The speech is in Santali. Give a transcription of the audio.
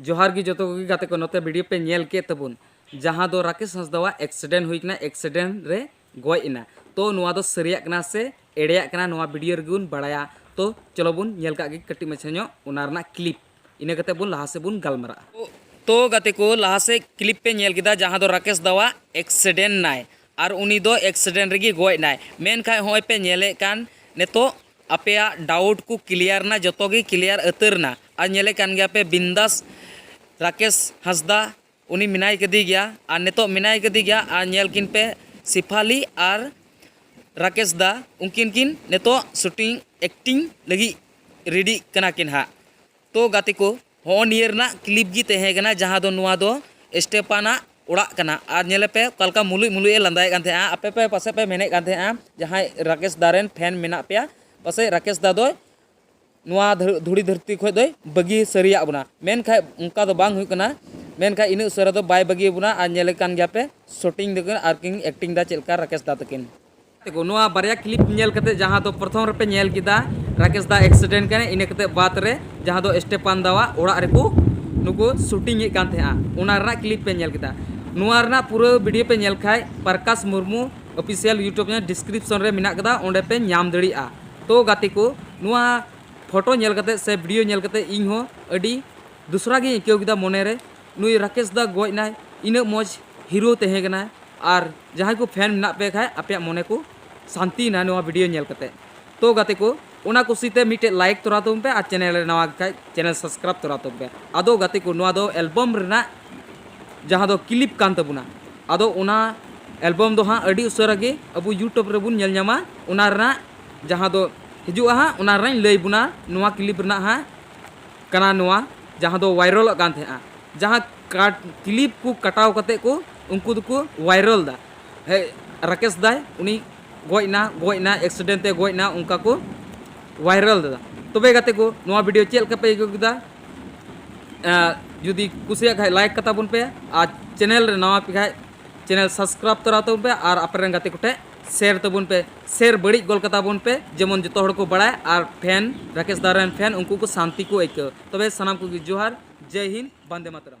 ᱡᱚᱦᱟᱨ ᱜᱮ ᱡᱚᱛᱚ ᱠᱚᱜᱮ ᱜᱟᱛᱮ ᱠᱚ ᱱᱚᱛᱮ ᱵᱷᱤᱰᱤᱭᱳ ᱯᱮ ᱧᱮᱞ ᱠᱮᱫ ᱛᱟᱵᱚᱱ ᱡᱟᱦᱟᱸ ᱫᱚ ᱨᱟᱠᱮᱥ ᱦᱟᱸᱥᱫᱟᱣᱟᱜ ᱮᱠᱥᱤᱰᱮᱱᱴ ᱦᱩᱭ ᱠᱟᱱᱟ ᱮᱠᱥᱤᱰᱮᱱᱴ ᱨᱮ ᱜᱚᱡ ᱮᱱᱟ ᱛᱚ ᱱᱚᱣᱟ ᱫᱚ ᱥᱟᱹᱨᱤᱭᱟᱜ ᱠᱟᱱᱟ ᱥᱮ ᱮᱲᱮᱭᱟᱜ ᱠᱟᱱᱟ ᱱᱚᱣᱟ ᱵᱷᱤᱰᱤᱭᱳ ᱨᱮᱜᱮ ᱵᱚᱱ ᱵᱟᱲᱟᱭᱟ ᱛᱚ ᱪᱚᱞᱚ ᱵᱚᱱ ᱧᱮᱞ ᱠᱟᱜ ᱜᱮ ᱠᱟᱹᱴᱤᱡ ᱢᱟᱪᱷᱟ ᱧᱚᱜ ᱚᱱᱟ ᱨᱮᱱᱟᱜ ᱠᱞᱤᱯ ᱤᱱᱟᱹ ᱠᱟᱛᱮ ᱵᱚᱱ ᱞᱟᱦᱟ ᱥᱮᱫ ᱵᱚᱱ ᱜᱟᱞᱢᱟᱨᱟᱜᱼᱟ ᱛᱚ ᱜᱟᱛᱮ ᱠᱚ ᱞᱟᱦᱟ ᱥᱮᱫ ᱠᱞᱤᱯ ᱯᱮ ᱧᱮᱞ ᱠᱮᱫᱟ ᱡᱟᱦᱟᱸ ᱫᱚ ᱨᱟᱠᱮᱥ ᱫᱟᱣᱟᱜ ᱮᱠᱥᱤᱰᱮᱱᱴ ᱱᱟᱭ ᱟᱨ ᱩᱱᱤ ᱫᱚ ᱮᱠᱥᱤᱰᱮᱱᱴ ᱨᱮᱜᱮ ᱜᱚᱡ ᱮᱱᱟᱭ᱾ ᱢᱮᱱᱠᱷᱟᱡ ᱦᱚᱸᱜᱼᱚᱭ ᱯᱮ ᱧᱮᱞᱮᱫ ᱠᱟᱱ ᱱᱤᱛᱚᱜ ᱟᱯᱮᱭᱟᱜ ᱰᱟᱣᱩᱴ ᱠᱚ ᱠᱞᱤᱭᱟᱨ ᱮᱱᱟ, ᱡᱚᱛᱚ ᱜᱮ ᱠᱞᱤᱭᱟᱨ ᱟᱹᱛᱟᱹᱨ ᱮᱱᱟ᱾ ᱟᱨ ᱧᱮᱞᱮᱫ ᱠᱟᱱ ᱜᱮᱭᱟ ᱯᱮ ᱵᱤᱱᱫᱟᱥ ᱨᱟᱠᱮᱥ ᱦᱟᱸᱥᱫᱟ ᱩᱱᱤ ᱢᱮᱱᱟᱭ ᱠᱟᱫᱮ ᱜᱮᱭᱟ ᱟᱨ ᱱᱤᱛᱚᱜ ᱢᱮᱱᱟᱭ ᱠᱟᱫᱮ ᱜᱮᱭᱟ ᱟᱨ ᱧᱮᱞ ᱠᱤᱱ ᱯᱮ ᱥᱤᱯᱷᱟᱞᱤ ᱟᱨ ᱨᱟᱠᱮᱥ ᱫᱟ ᱩᱱᱠᱤᱱ ᱠᱤᱱ ᱱᱤᱛᱚᱜ ᱥᱩᱴᱤᱝ ᱮᱠᱴᱤᱝ ᱞᱟᱹᱜᱤᱫ ᱨᱮᱰᱤᱜ ᱠᱟᱱᱟ ᱠᱤᱱ ᱦᱟᱸᱜ᱾ ᱛᱚ ᱜᱟᱛᱮ ᱠᱚ᱾ ᱦᱚᱸᱜᱼᱚ ᱱᱤᱭᱟᱹ ᱨᱮᱱᱟᱜ ᱠᱞᱤᱯ ᱜᱮ ᱛᱟᱦᱮᱸ ᱠᱟᱱᱟ ᱡᱟᱦᱟᱸ ᱫᱚ ᱱᱚᱣᱟ ᱫᱚ ᱥᱴᱮᱯᱟᱱ ᱟᱜ ᱚᱲᱟᱜ ᱠᱟᱱᱟ ᱟᱨ ᱧᱮᱞᱮ ᱯᱮ ᱚᱠᱟ ᱞᱮᱠᱟ ᱢᱩᱞᱩᱡ ᱢᱩᱞᱩᱡ ᱮ ᱞᱟᱸᱫᱟᱭᱮᱫ ᱠᱟᱱ ᱛᱟᱦᱮᱸᱜᱼᱟ ᱟᱯᱮ ᱯᱮ ᱯᱟᱥᱮᱡ ᱯᱮ ᱢᱮᱱᱮᱫ ᱠᱟᱱ ᱛᱟᱦᱮᱸᱜᱼᱟ ᱡᱟᱦᱟᱸᱭ ᱨᱟᱠᱮᱥ ᱫᱟ ᱨᱮᱱ ᱯᱷᱮᱱ ᱢᱮᱱᱟᱜ ᱯᱮᱭᱟ ᱯᱟᱥᱮᱡ ᱨᱟᱠᱮᱥ ᱫᱟ ᱫᱚᱭ ᱱᱚᱣᱟ ᱫᱷᱩᱲᱤ ᱫᱷᱟᱹᱨᱛᱤ ᱠᱷᱚᱡ ᱫᱚᱭ ᱵᱟᱹᱜᱤ ᱥᱟᱹᱨᱤᱭᱟᱜ ᱵᱚᱱᱟ ᱢᱮᱱᱠᱷᱟᱡ ᱚᱱᱠᱟ ᱫᱚ ᱵᱟᱝ ᱦᱩᱭᱩᱜ ᱠᱟᱱᱟ ᱢᱮᱱᱠᱷᱟᱡ ᱤᱱᱟᱹᱜ ᱩᱥᱟᱹᱨᱟ ᱫᱚ ᱵᱟᱭ ᱵᱟᱹᱜᱤ ᱵᱚᱱᱟ ᱟᱨ ᱧᱮᱞᱮᱫ ᱠᱟᱱ ᱜᱮᱭᱟ ᱯᱮ ᱥᱩᱴᱤᱝ ᱫᱟᱠᱤᱱ ᱟᱨ ᱠᱤᱱ ᱮᱠᱴᱤᱝ ᱫᱟ ᱪᱮᱫ ᱞᱮᱠᱟ ᱨᱟᱠᱮᱥ ᱫᱟ ᱛᱟᱹᱠᱤᱱ ᱛᱮᱠᱚ ᱱᱚᱣᱟ ᱵᱟᱨᱭᱟ ᱠᱞᱤᱯ ᱧᱮᱞ ᱠᱟᱛᱮ ᱡᱟᱦᱟᱸ ᱫᱚ ᱯᱨᱚᱛᱷᱚᱢ ᱨᱮᱯᱮ ᱧᱮᱞ ᱠᱮᱫᱟ ᱨᱟᱠᱮᱥ ᱫᱟ ᱮᱠᱥᱤᱰᱮᱱᱴ ᱠᱟᱱᱟ ᱤᱱᱟᱹ ᱠᱟᱛᱮ ᱵᱟᱫ ᱨᱮ ᱡᱟᱦᱟᱸ ᱫᱚ ᱥᱴᱮᱯᱟᱱ ᱫᱟᱣᱟᱜ ᱚᱲᱟᱜ ᱨᱮᱠᱚ ᱱᱩᱠᱩ ᱥᱩᱴᱤᱝ ᱮᱫ ᱠᱟᱱ ᱛᱟᱦᱮᱸᱜᱼᱟ ᱚᱱᱟ ᱨᱮᱱᱟᱜ ᱠᱞᱤᱯ ᱯᱮ ᱧᱮᱞ ᱠᱮᱫᱟ ᱱᱚᱣᱟ ᱨᱮᱱᱟᱜ ᱯᱩᱨᱟᱹ ᱵᱷᱤᱰᱤᱭᱳ ᱯᱮ ᱧᱮᱞ ᱠᱷᱟᱡ Prakash Murmu official YouTube channel description ᱨᱮ ᱢᱮᱱᱟᱜ ᱠᱟᱫᱟ ᱚᱸᱰᱮ ᱯᱮ ᱧᱟᱢ ᱫᱟᱲᱮᱭᱟᱜᱼᱟ ᱛᱚ ᱜᱟᱛᱮ ᱠᱚ ᱱᱚᱣᱟ ᱯᱷᱳᱴᱳ ᱧᱮᱞ ᱠᱟᱛᱮ ᱥᱮ ᱵᱷᱤᱰᱤᱭᱳ ᱧᱮᱞ ᱠᱟᱛᱮ ᱤᱧ ᱦᱚᱸ ᱟᱹᱰᱤ ᱫᱩᱥᱨᱟ ᱜᱤᱧ ᱟᱹᱭᱠᱟᱹᱣ ᱠᱮᱫᱟ ᱢᱚᱱᱮ ᱨᱮ ᱱᱩᱭ ᱨᱟᱠᱮᱥ ᱫᱟ ᱜᱚᱡ ᱱᱟᱭ ᱤᱱᱟᱹᱜ ᱢᱚᱡᱽ ᱦᱤᱨᱳ ᱛᱟᱦᱮᱸ ᱠᱟᱱᱟᱭ ᱟᱨ ᱡᱟᱦᱟᱸᱭ ᱠᱚ ᱯᱷᱮᱱ ᱢᱮᱱᱟᱜ ᱯᱮ ᱠᱷᱟᱡ ᱟᱯᱮᱭᱟᱜ ᱢᱚᱱᱮ ᱠᱚ ᱥᱟᱱᱛᱤᱭᱮᱱᱟ ᱱᱚᱣᱟ ᱵᱷᱤᱰᱤᱭᱳ ᱧᱮᱞ ᱠᱟᱛᱮ ᱛᱚ ᱜᱟᱛᱮ ᱠᱚ ᱚᱱᱟ ᱠᱩᱥᱤ ᱛᱮ ᱢᱤᱫᱴᱮᱡ ᱞᱟᱭᱤᱠ ᱛᱚᱨᱟ ᱛᱟᱵᱚᱱ ᱯᱮ ᱟᱨ ᱪᱮᱱᱮᱞ ᱨᱮ ᱱᱟᱣᱟ ᱠᱷᱟᱡ ᱪᱮᱱᱮᱞ ᱥᱟᱵᱥᱠᱨᱟᱭᱤᱵ ᱛᱚᱨᱟ ᱛᱟᱵᱚᱱ ᱯᱮ ᱟᱫᱚ ᱜᱟᱛᱮ ᱠᱚ ᱱᱚᱣᱟ ᱫᱚ ᱮᱞᱵᱚᱢ ᱨᱮᱱᱟᱜ ᱡᱟᱦᱟᱸ ᱫᱚ ᱠᱞᱤᱯ ᱠᱟᱱ ᱛᱟᱵᱚᱱᱟ ᱟᱫᱚ ᱚᱱᱟ ᱮᱞᱵᱚᱢ ᱫᱚ ᱦᱟᱸᱜ ᱟᱹᱰᱤ ᱩᱥᱟᱹᱨᱟ ᱜᱮ ᱟᱵᱚ ᱭᱩᱴᱩᱵᱽ ᱨᱮᱵᱚᱱ ᱧᱮᱞ ᱧᱟᱢᱟ ᱚᱱᱟ ᱨᱮᱱᱟᱜ ᱡᱟᱦᱟᱸ ᱫᱚ ᱦᱤᱡᱩᱜᱼᱟ ᱦᱟᱸᱜ ᱚᱱᱟ ᱨᱮᱱᱟᱜ ᱞᱟᱹᱭ ᱵᱚᱱᱟ ᱱᱚᱣᱟ ᱠᱞᱤᱯ ᱨᱮᱱᱟᱜ ᱦᱟᱸᱜ ᱠᱟᱱᱟ ᱱᱚᱣᱟ ᱡᱟᱦᱟᱸ ᱫᱚ ᱣᱟᱭᱨᱚᱞᱚᱜ ᱠᱟᱱ ᱛᱟᱦᱮᱸᱜᱼᱟ ᱡᱟᱦᱟᱸ ᱠᱟᱴ ᱠᱞᱤᱯ ᱠᱚ ᱠᱟᱴᱟᱣ ᱠᱟᱛᱮ ᱠᱚ ᱩᱱᱠᱩ ᱫᱚᱠᱚ ᱣᱟᱭᱨᱚᱞ ᱫᱟ ᱦᱮ ᱨᱟᱠᱮᱥ ᱫᱟᱭ ᱩᱱᱤ ᱜᱚᱡ ᱮᱱᱟ ᱜᱚᱡ ᱮᱱᱟ ᱮᱠᱥᱤᱰᱮᱱᱴ ᱛᱮ ᱜᱚᱡ ᱮᱱᱟ ᱚᱱᱠᱟ ᱠᱚ ᱣᱟᱭᱨᱚᱞ ᱫᱟ ᱛᱚᱵᱮ ᱜᱟᱛᱮ ᱠᱚ ᱱᱚᱣᱟ ᱵᱷᱤᱰᱤᱭᱳ ᱪᱮᱫ ᱞᱮᱠᱟ ᱯᱮ ᱟᱹᱭᱠᱟᱹᱣ ᱠᱮᱫᱟ ᱡᱩᱫᱤ ᱠᱩᱥᱤᱭᱟᱜ ᱠᱷᱟᱡ ᱞᱟᱭᱤᱠ ᱠᱟᱛᱟ ᱵᱚᱱ ᱯᱮ ᱟᱨ ᱪᱮᱱᱮᱞ ᱨᱮ ᱱᱟᱣᱟ ᱯᱮ ᱠᱷᱟᱡ ᱪᱮᱱᱮᱞ ᱥᱟᱵᱥᱠᱨᱟᱭᱤᱵ ᱛᱚᱨᱟ ᱛᱟᱵᱚᱱ ᱯᱮ ᱟᱨ ᱟᱯᱮ ᱨᱮᱱ ᱜᱟᱛᱮ ᱠᱚᱴᱷᱮᱡ ᱥᱮᱭᱟᱨ ᱛᱟᱵᱚᱱ ᱯᱮ ᱥᱮᱭᱟᱨ ᱵᱟᱹᱲᱤᱡ ᱜᱚᱞ ᱠᱟᱛᱟ ᱵᱚᱱ ᱯᱮ ᱡᱮᱢᱚᱱ ᱡᱚᱛᱚ ᱦᱚᱲ ᱠᱚ ᱵᱟᱲᱟᱭ ᱟᱨ ᱯᱷᱮᱱ ᱨᱟᱠᱮᱥ ᱫᱟ ᱨᱮᱱ ᱯᱷᱮᱱ ᱩᱱᱠᱩ ᱠᱚ ᱥᱟᱱᱛᱤ ᱠᱚ ᱟᱹᱭᱠᱟᱹᱣ ᱛᱚᱵᱮ ᱥᱟᱱᱟᱢ ᱠᱚᱜᱮ ᱡᱚᱦᱟᱨ ᱡᱟᱭ ᱦᱤᱱᱫ ᱵᱟᱱᱫᱮ ᱢᱟᱛᱟᱨᱟᱢ